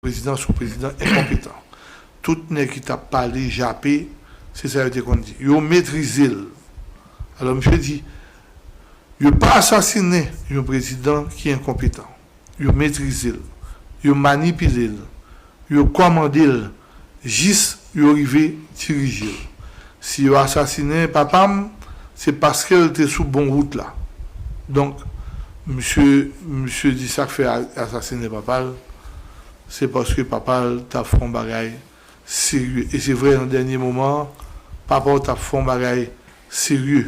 Prezidan son prezidan enkonpetan. Tout nèg ki tap pale jape se sa yo te konn di. Yo metrize l. Alò misye di yo pa asasinen yon prezidan ki enkonpetan. Yo metrize l. Yo manipile l. Yo kòmande l jis yo rive dirije l. Si yo asasinen papa m se paske l te sou bon wout la. Donk misye misye di sa k fè yo asasinen papa l se paske papa l t ap fè yon bagay serye. E se vre nan dènye moman an papa w t ap fè yon bagay serye.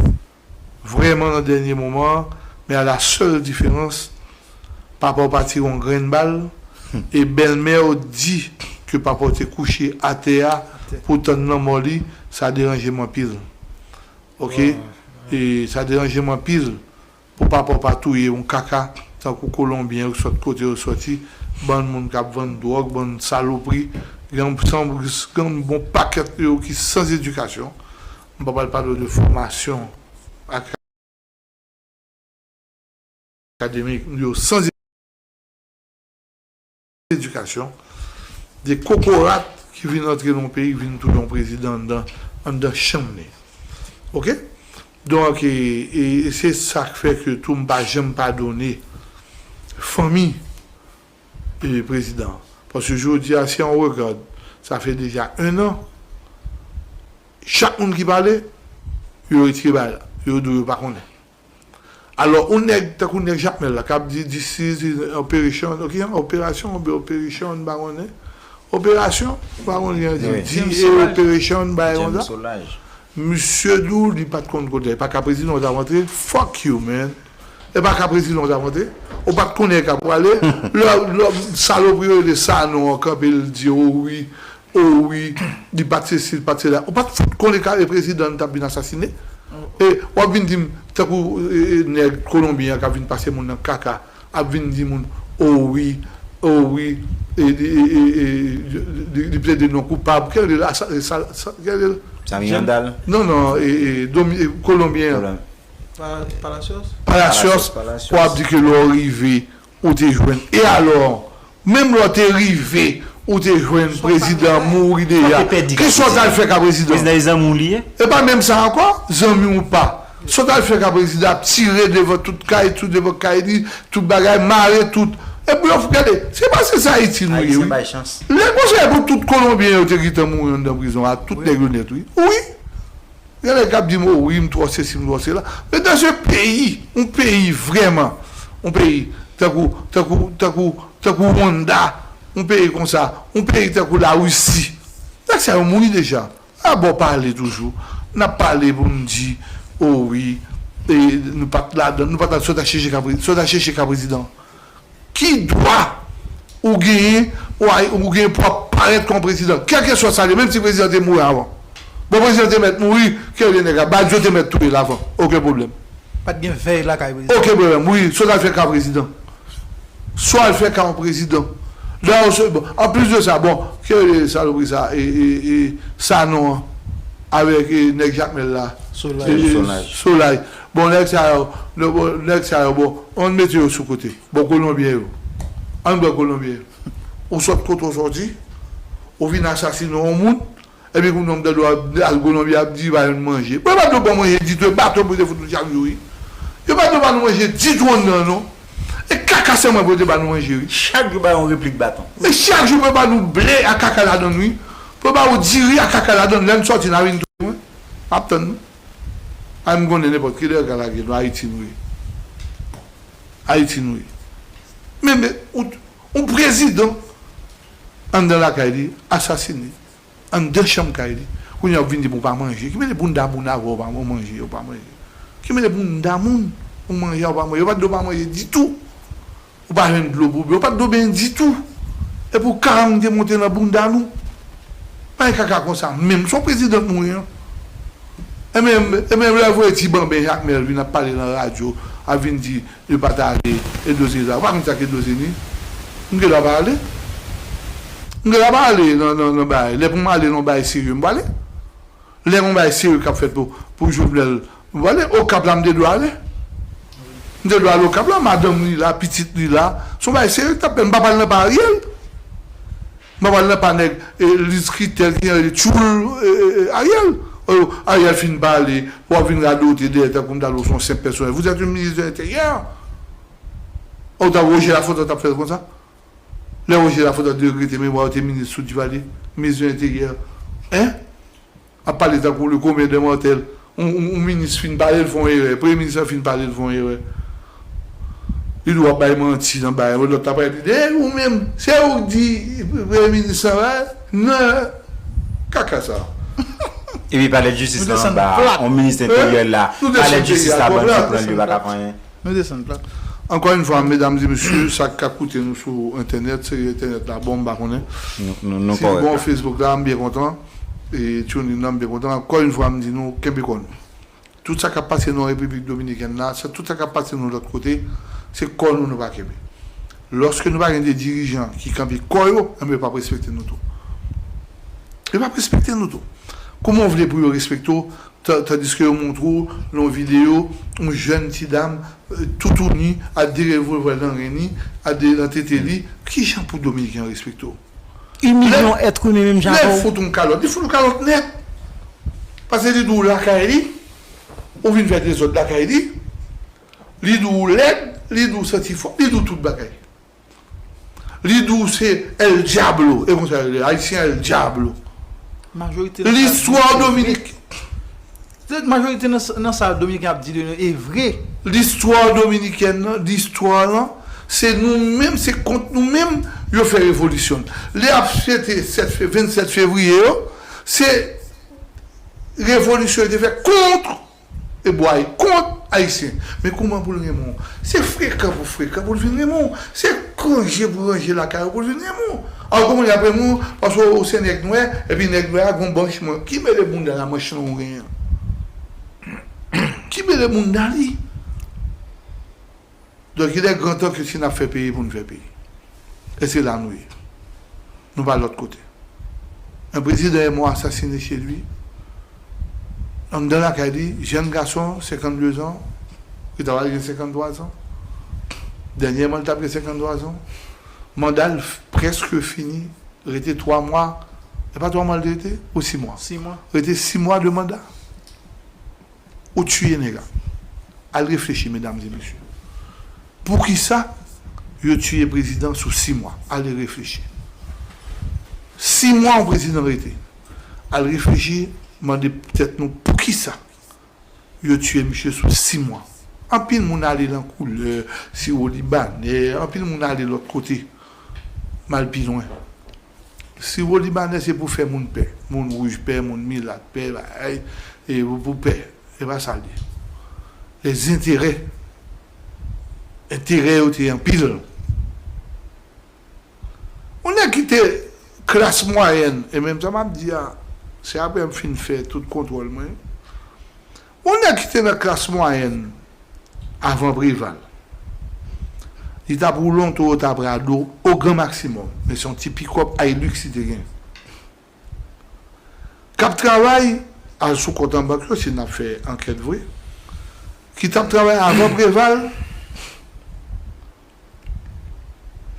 Vrèman nan dènye moman an men a la sèl diferans papa w pa tire yon grenn bal e bèlmè w di ke papa w te kouche atè a pou tann lanmò li sa deranje m anpil ok e sa deranje m anpil pou papa w pa touye yon kaka tankou kolonbyen yo ki sòt kote yo sòti bann moun kap vann dwòg bann salopri gang san gang bon pakèt yo ki san zedikasyon M pa pral pale w de fòmasyon akademik m yo san edikasyon, de kokorat ki vin antre nan yon peyi ki vin tounen yon prezidan anndan anndan chanm li. Ok? Donk e se sa k fè ke tou m pa janm padone fanmi. prezidan paske jodi a si an regard sa fè deja 1 an chak moun ki pale yo retire bagay la yo di w yo pa konnen alò yon nèg tankou nèg jakmèl la kap di this is an operation ok yon operasyon oubyen operation m pa konnen operasyon m pa konn jan yo di di e operation bagay konsa misye di w li pat konn kote li pa ka prezidan w tap antre fuck you man. E pa ka prezidan w tap antre. Ou pat konnen e ka pou ale. Lè salopri yo rele Sanon an kanpe l di o wi, o wi, li pat sesi, li pat sela. Ou pat fout konnen e ka e prezidan tap vin asasine. E wap vin di m tankou nèg kolonbyen an kap vin pase moun nan kaka ap vin di moun o wi, o wi e li plede non koupab. Kè rele l? Kè rele l? Samy Andal? Non non e kolonbyen an. Palacios? Palacios, pou ap di ke lè w rive ou te jwenn, e alò, menm lè w te rive ou te jwenn prezidan an mouri deja, ki sa w t al fè ka prezidan? Prezidan se zanmi w li ye? E pa menm sa ankò, zanmi ou pa, sa w t al fè ka prezidan ap tire devan tout kay, tou devan kay li, tout bagay, mare tout, e pou yo fè, gade, se pa se sa Ayiti nou ye wi, lè konsa e pou tout kolonbyen yo te gentan mouri anndan prizon a, tout nèg yo nèt wi, wi. Gen nèg kap dim oh wi m twò sesi m twò sela men dans un peyi yon peyi vrèman yon peyi tankou tankou tankou tankou Rwanda yon peyi konsa yon peyi tankou la Risi nèg sa yo mouri deja a bon pale toujou nap pale pou nou di oh wi e nou pat ladann nou pata sot a chèche ka prezidan. Ki dwa ou genyen ou genyen pou wap parèt kon prezidan? Kèlkeswa sa l ye, menm si prezidan te mouri avan. Bon prezidan te mèt mouri, kè vye nèg la, Badio te mèt touye l avan. Oken pwoblèm. Pa t gen vèy lakay prezidan. Oken pwoblèm. Wi, sa w ta l fè ka prezidan? Sa w al fè ka yon prezidan? Lè w se, bon, an plis de sa, bon, kè yo rele salopri sa a, e, Sanon an, avèk nèg Jakmèl la a? Solay. Solay. Bon nèg sa yo nèg sa yo bon ann mete yo sou kote bon kolonbyen yo ann pran kolonbyen yo ou sòt kote w sòti ou vin asasine yon moun epi kounye a m tande w ap al kolonbi ap di ba yon manje bon yo pa di w pran manje ditou e baton pou yo te fout nou chak jou wi yo pa di w ba nou manje ditou anndan non e kaka sèlman pou yo te ba nou manje wi. Chak jou ba yon replik baton. E chak jou pou yo ba nou ble ak kaka ladann wi pou yo ba ou diri ak kaka ladann lè n sòti n a vin touye mwen m ap tann nou. Anh konnen nenpòt ki lè yo ka lage nou Ayiti nou ye bon Ayiti nou ye men men yon prezidan anndan lakay li asasine anndan chanm kay li kounye a wap vin di bon ou pa manje ki mele bounda moun avè w ou manje ou pa manje ki mele bounda moun ou manje a ou pa manje yo pat di w pa manje ditou. Ou pa jwenn dlo pou w bwè. Ou pa gen dlo benyen ditou. Epi w karante monte nan bounda nou. Bagay kaka konsa menm. Son prezidan nou ye an. Ebyen lè yo voye ti banben Jakmèl vin ap pale nan radyo ap vin di yo pa ta ale Eddo Sezar. Ou pa konn sa k Eddo se ni? M gen dwa pa ale? M gen dwa pa ale nan bagay. Lè pou m ale nan bagay serye m pwale. Lè gon bagay serye kap fèt pou pou jovenel vole okap la m te dwe ale m te dwe ale okap la madanm li la pitit li la son bagay serye ki tap fèt m pa pral nan pa ariel m pa pral nan pa nèg liz kritèl kijan yo rele tchoul ariel oh ariel fin pale wap vin radote dèyè tankou m ta di w son senp pèsonèl vous etes un ministre de l'intérieur oh ta roger lafontant tap fèl konsa. Lè Roger Lafontant te regrete memwa yo te minis sou Duvalier, minis de l'interieur hein ap pale tankou le commun des mortels yon minis fin pale li fè yon erè premye minis lan fin pale li fè yon erè li di wap bay manti nan bagay lòt la pral di de ou menm se ou ki di premye minis lan va nan kaka sa Epi palè de justice lan anba a yon minis de l'interieur la palè de justice la bandi pranl yo pa ka fè anyen. Nou desann plat. Ankò yn fwa medam e mesye sak ka koute nou sou entènèt se entènèt la bon m pa konnen si li bon facebook la m byen kontan e tune in nan m byen kontan ankò yn fwa m di nou kenbe kò nou tout sa kap pase nou an repiblik dominikèn la tout sa kap pase nou lòt kote se kò nou nou pa kenbe lòske nou pa gen de dirijan ki kanpe kò yo enben yo pap respekte nou tou yo pap respekte nou tou kouman w vle pou yo respekte w Tandiske yo montre w nan yon videyo yon jèn ti dam toutouni ak 2 revòlvè nan ren li, ak 2 nan tete li, kijan pou dominiken an respekte w? Imilye yon èt imen menm jan avè w? Lè l fout w yon kalòt, li fout w kalòt nèt. Pase li di w lakay li, ou vin fè dezòd lakay li, li di w ou lèd, li di w santi fò, li di w tout bagay. Li di w se El Diablo, e konsa yo rele Ayisyen El Diablo. Majorite nan sa Dominiken ap di de nou e vre. Listwa Dominikèn nan, listwa lan, se nou menm, se kont nou menm yo fè revolisyon. Lè y ap fete 27 fevriye yo, se revolisyon yo te fè kont E bway kont ayisyen. Men kouman pou l renmen w? Se frekan pou frekan pou l vin renmen w. Se ranje pou ranje lakay ou pou l vin renmen w. Al kouman y ap renmen w paske w se nèg nwè epi nèg nwè a gen yon banch manch. Ki mele bounda la manch lan ou genyen an? Ki mele bounda li? Donk il est grand temps ke si nap fè peyi pou nou fè peyi. E se la nou ye. Nou pa lòt kote. Un prezidan e mò asasine chez lui, anndan lakay li, jenn gason 52 zan, li ta pral gen 53 zan. Dènyèman li tap gen 53 zan. Manda l prèske fini, rete 3 mwa, e pa 3 mwa li te rete? Ou 6 mwa? Rete 6 mwa de manda. Ou tuye nèg a. Al reflechi medam e mesye. Poukisa yo tuye prezidan sou 6 mwa. Al e reflechi. 6 mwa yon prezidan rete. Al reflechi mande tèt nou poukisa yo tuye misye sou 6 mwa. Anpil moun ale lan koulè, siwolibanè, anpil moun ale lòt kote. Mal pi lwen. Siwo libanè se pou fè moun pè, moun wouj pè, moun milat pè, bagay e pou pè. Se pa sa l ye. Lèzenterè, enterè yo te anpil. Yon nèg ki te klas mwayèn, e menm sa m ap di a, se aprè m fin fè tout kontwòl mwen yo. Yon nèg ki te nan klas mwayèn avan Preval. Li t ap woule yon Toyota Prado o gran maksimòm, men se yon ti pikòp Hilux li te gen. K ap travay, al sou kont an bank yo si n ap fè ankèt vre, ki t ap travay avan Preval,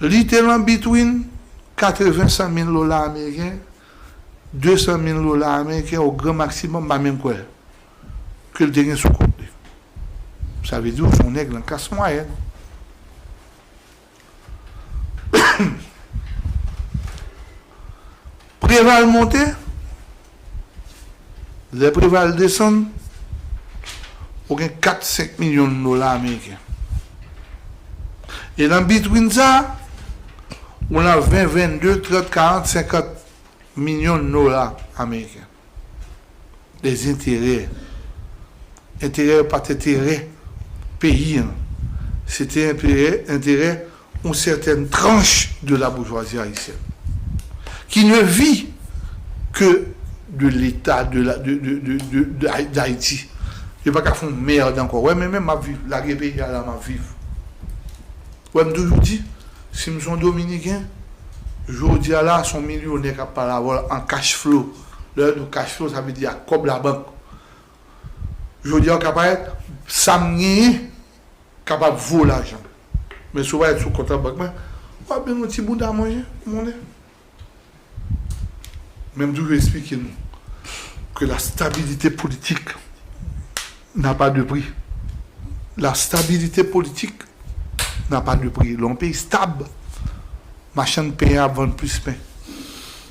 li te lan bitwin 80 san mil dola ameriken 200 mil dola ameriken o gran maksimòm m pa menm kwè ke l te gen sou kont li. Sa vle di w se yon nèg nan klas mwayèn. Preval monte, lè Preval desann, ou gen 4, 5 milyon dola ameriken. E nan bitwin sa a. ou nan 20, 22, 30, 40, 50 milyon dola ameriken. Dezenterè. Enterè yo pa t enterè peyi an. Se te enterè, enterè yon sètèn tranch de laboujwazi ayisyèn. Ki ne vi ke de leta de, de, de, dayiti. Yo pa ka fè yon mèrd ankò. Wè men menm m ap viv, lage peyi a la m ap viv. Wè m toujou di, si m son dominiken, jodi a la a son milyonè kap pale avè w an cash flow. Lè yo di w cash flow sa vle di ak kòb labank. Jodi a w ka pa et sa m genyen kapab vo lajan. Men si w pa et sou kont an bank mwen, wap jwenn yon ti bouda manje, monnen. Men m toujou esplike nou ke la stabilite politik n'a pas de prix. La stabilite politik n'a pas de prix. Lè yon peyi stab, machann pen an ap vann plis pen.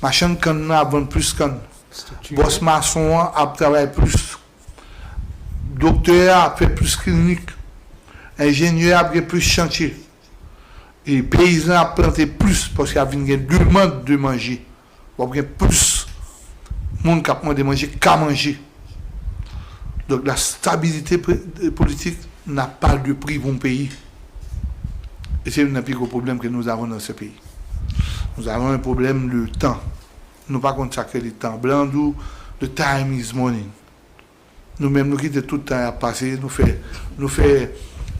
Machann kann nan ap vann plis kann. Bòs mason an ap travay plis. Doktè a ap fè plis klinik. Enjenyè a ap gen plis chantye. E peyizan ap plante plis paske ap vin gen demand de manje. W ap gen plis moun k ap mande manje ka manje. Donk la stabilite politik n'a pas de prix pou yon peyi. E se youn nan pi gwo pwoblèm ke nous avons dans ce pays. Nous avons un problème de tan. Nou pa konn sa k rele tan. Blan an di w the time is money. Nou menm nou kite tout tan ya pase nou fè nou fè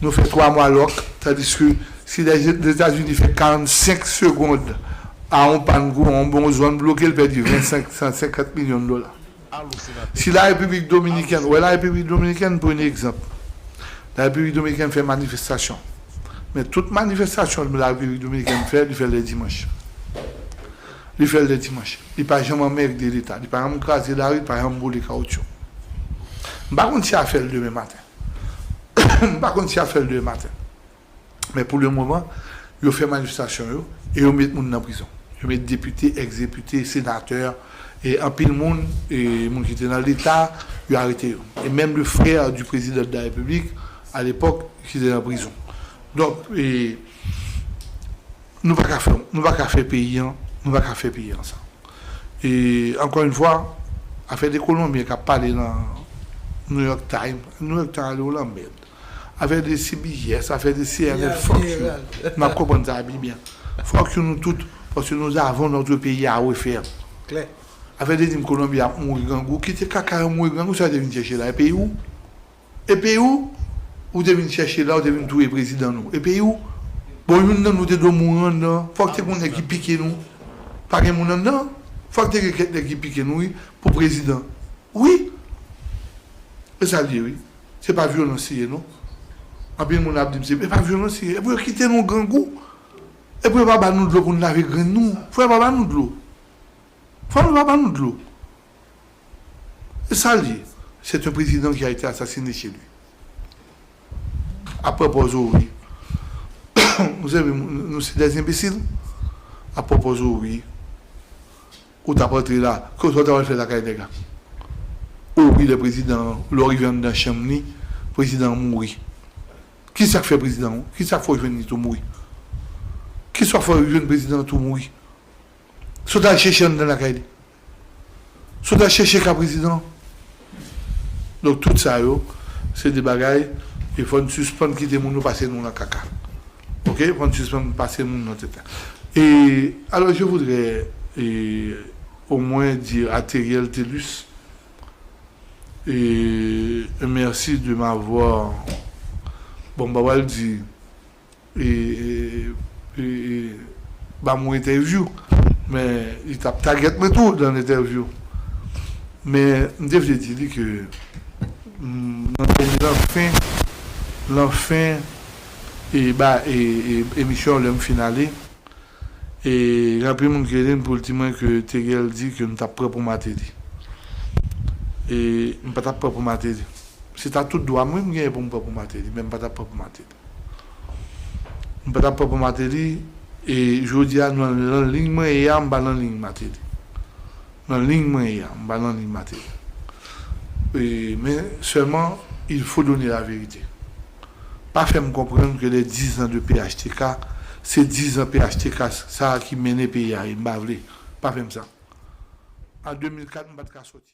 nou fè 3 mwa lòk tandiske si Lèzetazini fè 45 segond a on pann kouran on bon zòn bloke l pèdi 25 san 50 milyon dola. Si la Repiblik Dominikèn wè la Repiblik Dominikèn pou yn egzanp la Repiblik Dominikèn fè manifestasyon men tout manifestasyon la Repiblik Dominikèn fè li fè lè dimanch. Li fè l lè dimanch. Li pa janm anmègde Leta. Li pa janm kraze lari, li pa janm boule kawoutchou. M pa konn si y a fè l demen maten. M pa konn si y a fè l demen maten. Men pou le moman, yo fè manifestasyon yo e yo met moun nan prizon. Yo met depite, ex-depite, senatè, e anpil moun, e moun ki te nan Leta, yo arete yo. E menm le frè di prezidan de la Repiblik, alepòk, ki te nan prizon. Donk, e, Nou pa ka fè, nou pa ka fè peyi an, nou pa ka fè peyi an sa. E ankò yn fwa, afè de kolonbyen kap pale nan New York Times, New York Times ale w lanmèd. Afè de CBS, afè de CNN, fuck you. Nap konprann sa pi byen. Fuck you nou tout, paske nous avons notre pays à refaire. Klè. Afè de di m kolonbyen ap mouri grangou, kite kaka yo mouri grangou, sa yo te vin chèche la? E peyi w? E peyi w ou te vin chèche la ou te vin touye prezidan nou e peyi w bon youn nan nou te dwe mouri anndan fòk te gon nèg ki pike nou pa gen moun anndan fòk te gen kèk nèg ki pike nou wi pou prezidan wi se sa l ye wi se pa vyolans li ye non anpil moun ap di m se pa vyolans li ye e pou yo kite nou grangou e pou yo pa ba nou dlo pou n lave grenn nou fò yo pa ba nou dlo fò yo pa ba nou dlo. Se sa l di. C'est un président qui a été assassiné chez lui. Après pòz ou ri. Ou sèvi m, nou se des imbécil? Après pòz ou ri. Ou tap antre la, ke sa w tap al fè lakay nèg la? Ou ri lè prezidan an, lè w rive anndan chanm li, prezidan an mouri. Ki sa k fè prezidan an, ki sa k fè w jwenn li tou mouri? Ki sa w fè w jwenn prezidan an tou mouri? Sot al chèche anndan lakay li. Sot al chèche ka prezidan an. Donk tout sa yo se de bagay e fò n sispann kite moun yo pase nou nan kaka. Ok fò n sispann pase moun nan tete. E alò je voudrais ee o mwen dire a Theriel Thelus ee un merci de m'avoir bon m pa pral di ba mwen entèvyou men li t ap tagèt mwen tou nan entèvyou men m te vle di li ke nan fen emisyon an lè m fin ale gen anpil moun ki rele m pou l di mwen ke Theriel di ke m t ap pran pou Martelly e m pa t ap pran pou Martelly se ta tout dwa m wi m genyen pou m pran pou Martelly men m pa t ap pran pou Martelly. Nou pa ta pran pou Martelly e jodi a nou nan ligne mwen ye a m pa nan ligne Martelly. Nan ligne mwen ye a m pa nan ligne Martelly. E men sèlman il faut donner la vérité. Pa fè m konprann ke les 10 ans de phtk se 10 ans phtk sa ki mennen peyi a ye m pa vle. Pa fè m sa. An 2004 m pa t ka soti.